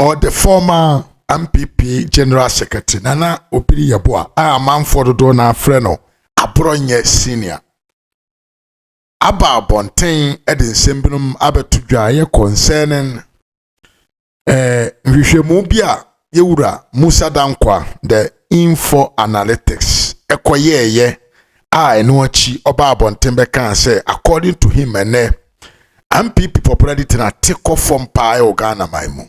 ɔde former mpp general secretary nana obiri yɛboa a amanfoɔ dodoɔ no afrɛ no aborɔnyɛ senior aba abɔnten de nsɛm binom abɛto dwa a ɛyɛ concerning eh, nhwehwɛmu bi a yɛwura musa dankwa the info analytics ɛkɔyɛɛyɛ a ɛno akyi ɔba abɔnten bɛkaa sɛ according to him ɛnɛ NPP pɔpra di tena te kɔ fam paa ɛwɔ Ghana man mu.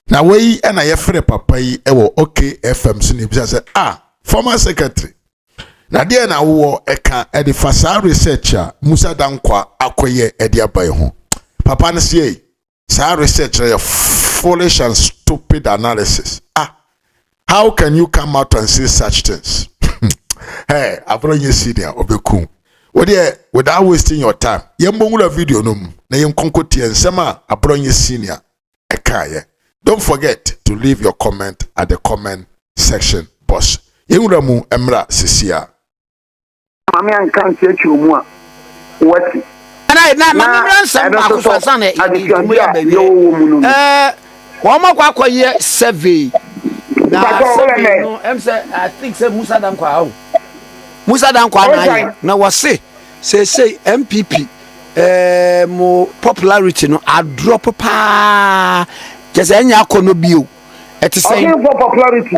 Na wei yi ɛna yɛfrɛ papa yi ɛwɔ OKFM so na ebisa sɛ a ah, former secretary na deɛ na wowɔ ɛka ɛde fa saa research a Musa Dankwa akɔyɛ ɛde aba yi ho. Papa no seɛ yi. Saa research no yɛ foolish and stupid analysis. Ah, how can you come out and say such things? hey, abro nye senior obeku. Wodeɛ without wasting your time, yɛmbɔ nwura video no mu na yɛnkonko tie nsɛm a abro nye senior ɛkaeɛ. Don't forget to leave your comment at the comment section box. Yɛnwura mu mmra sesia. maame anka nkyerɛkyerɛ mu a wati. na na ma me mmra nsɛm baako so ansa na nkɔmmɔ yi abɛwie ɛɛ wɔn akɔ akɔyɛ survey na survey no ɛm sɛ i think sɛ musa dankɔ aho musa dankɔ anayɛ na wɔse seesei mpp ɛɛ mo popularity no adrɔp paa kyɛ sɛ ɛnyɛ akɔ no bio ɛte sɛ. ɔsɛ popularity.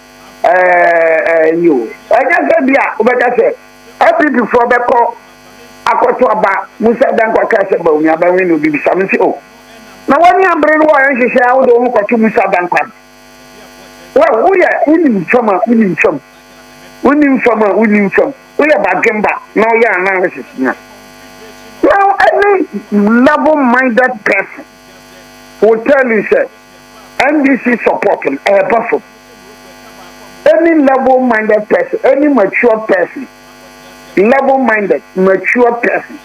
ɛɛ ɛyi o ɛnyɛ sɛ bi a wobɛka sɛ npp foɔ bɛkɔ akɔto aba mu sɛ dɛn kɔka sɛ bawumi abɛwe no obi bisa me sɛ o na wani abere no wɔyɛ nhyehyɛ a wode wo ho kɔto mu sa dankwa no wɛ woyɛ wonim fam a wonim fam wonim fam a wonim fam woyɛ badwemba na woyɛ analysis no now any level minded person will tell you sɛ NDC support no ɛreba fam. Any level minded person, any matured person, level minded, matured person.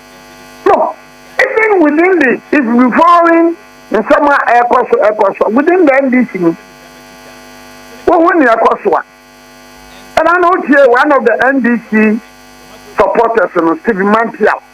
No, even within the, if you be following nsɛm a ɛrekɔ so ɛrekɔ so within the NDC no, wohu nea ɛkɔ so a, ɛna na wotie one of the NDC supporters no, Stephen Mantial.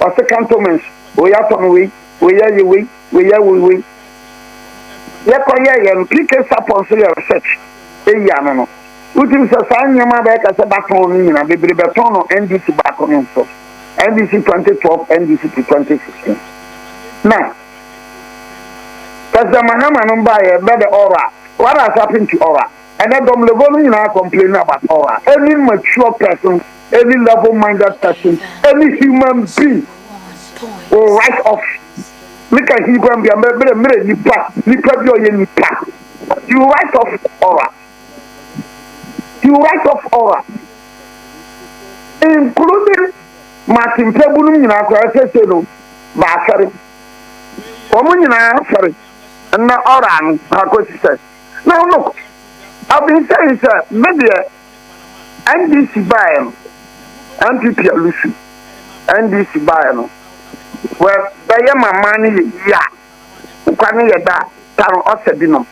ɔse cantonments wei atɔ no wei wei ayɛ wei wei ayɛ wei yɛkɔ yɛ yɛn PK sapon so yɛ research eyi ano no wotim sɛ saa nneɛma bɛyɛ ka sɛ batɔn no nyina bebree bɛtɔn no NDC baako no nso NDC 2012 NDC to 2016 na President Mahama no baayɛ bɛ the aura what has happened to aura ɛnɛ dɔm level no nyinaa complain about aura any mature person any level minded person, any human being will write off meka Hebrew bia mmerɛ mmerɛ nipa nipa bi ɔyɛ nipa he will write off aura he will write off aura including Martin Pɛbu nom nyinaa koraa sɛsɛ no baasɛre wɔn nyinaa sɛre na aura no akɔsi sɛ now look I've been saying sɛ medeɛ NDC baeɛ no, NPP alusu. NDC baeɛ no, wɛ bɛyɛ ma man no yɛ yie a, nkwa no yɛ da tan ɔsɛ binom.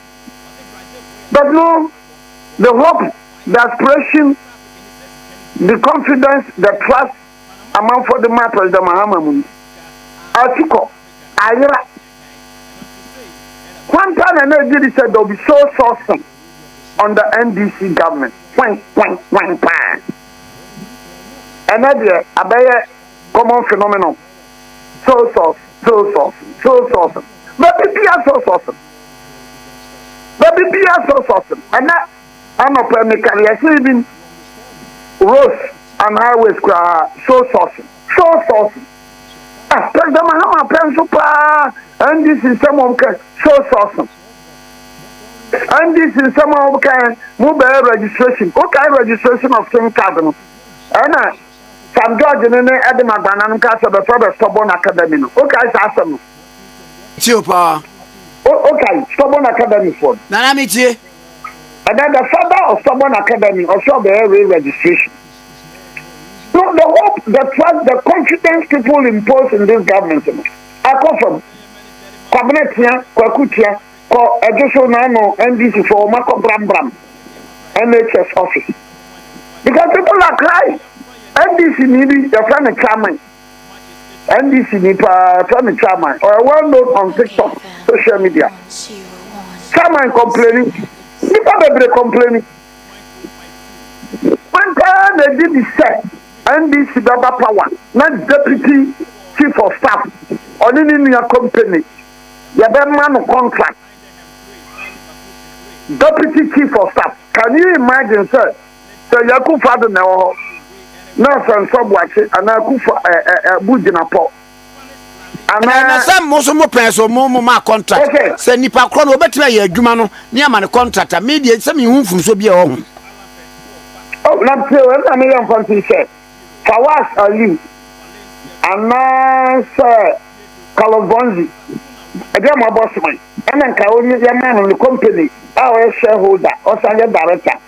But no, the hope, the aspiration, the confidence, the trust amanfoɔ de maa President Mahama mu no, atu kɔ, ayera. Kwan paa na na egye di sɛ there will be soul sourcing under NDC government. Kwan, kwan, kwan paa. Ɛnɛ deɛ abɛyɛ common phenomenon. Soul sourcing, soul sourcing, soul sourcing. Baabi biara soul sourcing. Baabi biara soul sourcing. Ɛnɛ anɔpa mi kari ɛhyɛn bi Rose and highways koraa soul sourcing. sɔɔ sɔɔso a pɛnsɛ mahama pɛ nso paa ndc nsɛm a wɔka sɔɔ sɔɔso ndc nsɛm a wɔka mo bɛyɛ registration wokae registration of sim card no ɛna sam george ne ne ɛde ma gbana no ka sɛ bɛfrɛ bɛ stubborn academy no wokae saa asɛm no tio paa wokae stubborn academy foɔ no nana metie ɛdɛ the father of stubborn academy ɔsɛ ɔbɛyɛ re registration So the hope, the trust, the confidence people impose in this government no akɔ fam? Kwabena tia, Kwaku tia, kɔ ɛdwo so na ano NDC fo wɔn akɔ brambram NHS office because people are crying. NDC ni bi yɛfrɛ no Chairman. NDC ni paa yɛfrɛ no Chairman. Ɔyɛ well known on TikTok social media. Chairman complaining. Nipa bebree complaining. Kwan paa na ɛdi bi sɛ NDC bɛba power na Deputy Chief of Staff ɔne ne nua company yɛbɛma no contract. Deputy Chief of Staff, can you imagine sɛ sɛ Yɛ Akufo-Addo na ɛwɔ hɔ na sɛ Nsɔ Boakye anaa Akufo-Addo gyina pɔ? ɛna sɛ mo nso mo pɛn so mo mo ma contract sɛ nipa korɔ no ɔbɛtumi ayɛ adwuma no ne ama no contract a me deɛ sɛ me hu nfunso bi a ɛwɔ ho. Oh, na pio ɛm na meyɛ mfa ntom sɛ Fawaz Aliu anaasɛ Carlos Bonzi ɛdeɛ mo abɔ soman ɛna nka ɔnye yɛmaa no ne company a ɔyɛ shareholder ɔsan yɛ director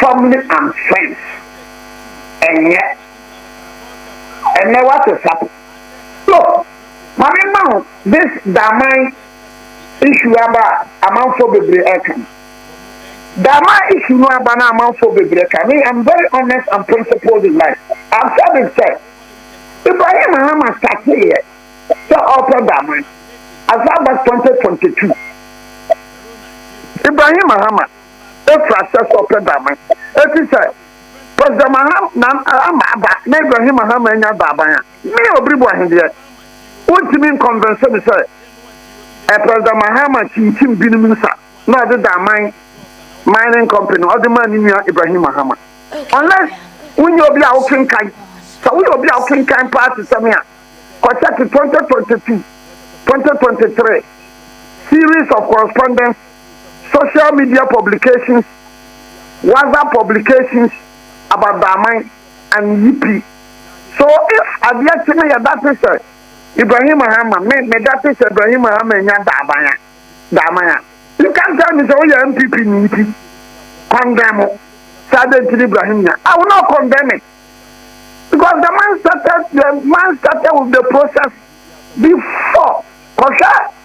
family and friends ɛnyɛ ɛnɛ wate sa so mame ma ho this daman issue aba amanfoɔ bebree ɛka no daman issue no aba na amanfoɔ bebree ɛka me I'm very honest and principled in life I've said it sɛ Ibrahim Mahama starteeɛ sɛ ɔpɛ daman as far as 2022 Ibrahim Mahama Efrat sɛ sɛ ɔpɛ daaban. Eti sɛ President Mahama aba na Ibrahim Mahama anya daaban a, me Obiribo Ahendeɛ, wontumi nkɔnvɛnse me sɛ eh President Mahama kyinkyim binom nsa na ɔde daaman mining company ɔde maa ne nua Ibrahim Mahama. Unless wonyɛ obi a wokenkan. Sɛ woyɛ obi a wokenkan paa te sɛ me a, kɔ check 2022, 2023 series of correspondence. social media publications, WhatsApp publications about Daman and Yipi. So if adeɛ kye no yɛdate sɛ Ibrahim Mahama, me medate sɛ Ibrahim Mahama nya Daman a, Daman a, you can't tell me sɛ woyɛ NPP ni nti condemn mo sɛ adɛn nti ne Ibrahim nya. I will not condemn it because the man started, the man started with the process before. Kɔhwɛ.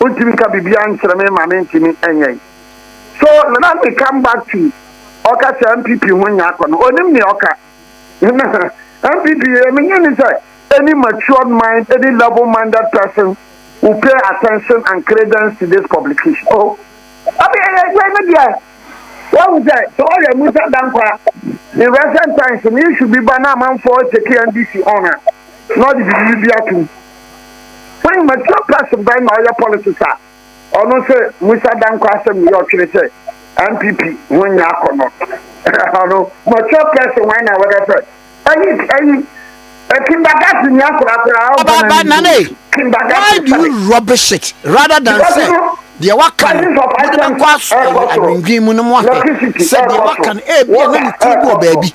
wontumi nka biribiara nkyerɛ me ma mentumi nyɛ. So let me come back to ɔka sɛ NPP ho nyɛ akɔ no, onim nea ɔka. NPP yɛ menye ne sɛ any matured mind, any level minded person will pay attention and credence to this publication. Oh. Abi ɛyɛ sɛ ne deɛ wahu sɛ sɛ ɔyɛ Musa Dankwa in recent times no issue bi ba na amanfoɔ take NDC on a. na ɔde biribi bi atom. When mature person bɛn na ɔyɛ politics a ɔno sɛ Musa Danko asɛm ne yɛ ɔtwene sɛ NPP ho nyɛ akɔnɔ. Ɔno mature person wɛn na wɔbɛ sɛ ɛyi ɛyi kindergarten ni akora akora ɔbɔ na ne Nana yi, why do you rubbish it rather than sɛ deɛ waka no mode bɛkɔ adwendwen mu no mo ahwɛ sɛ deɛ waka no ebia na ne tiri wɔ baabi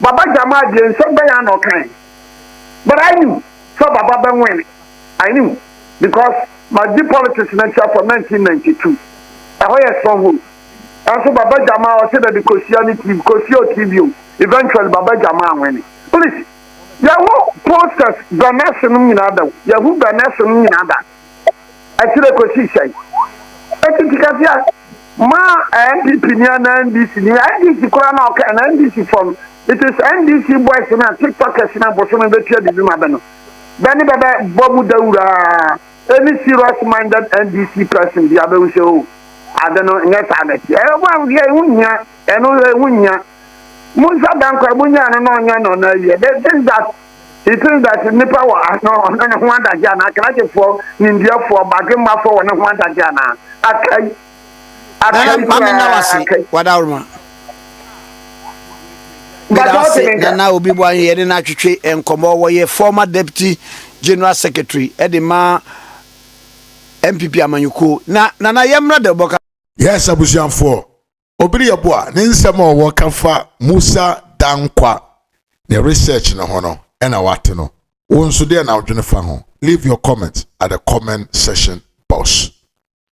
Baba Jamal deɛ nsɛm bɛn ara na ɔkae but I knew sɛ Baba bɛ win, I knew because magye politics no akyire from nineteen ninety two, ɛhɔ yɛ stronghold nanso Baba Jamal ɔse dabi Kosua ne TV, Kosua o TV o, eventually Baba Jamal win. Please yɛwo posters Bernese nom nyinaa da o, yɛhu Bernese nom nyinaa da. ɛkyerɛ kɔsi sɛn? Ɛti ti ka sɛ ma NPP ni ana NDC ni NDC koraa na ɔka na NDC fɔ no it is NDC boys na tiktokers na bosome bɛtua bibi ma bɛ no bɛ ne bɛbɛ bɔ mu dawuraa any serious minded NDC person bi abɛhu sɛ o ade no nyɛ saa na ɛti ɛyɛ bɔ ahohwɛ ɛho hia ɛno ɛho hia mo nsa dankwa mo nya no na ɔnya no na ɛyɛ this that Itsel da edzi nyimpa wɔ ɔno no ho adagye anaa Akenakefoɔ, Nimdeɛfoɔ, Badwemmafoɔ wɔ no ho adagye anaa? Akai. Akai koraa. Akai. Nana Maame Nda Wase Wadaworoma. Meda ase Nana Obi Boahe yɛne no atwetwe nkɔmmɔ wɔyɛ former deputy general secretary de ma NPP amanyɔkuo na Nana yɛmmra deɛ wobɛka. Yes abusuafoɔ Obi yɛ bo a ne nsɛm a ɔwɔ ka fa Musa Dankwa ne research no ho no ɛna wate no. Wo nso deɛ na wodwene fa ho? Leave your comment at the comment section box.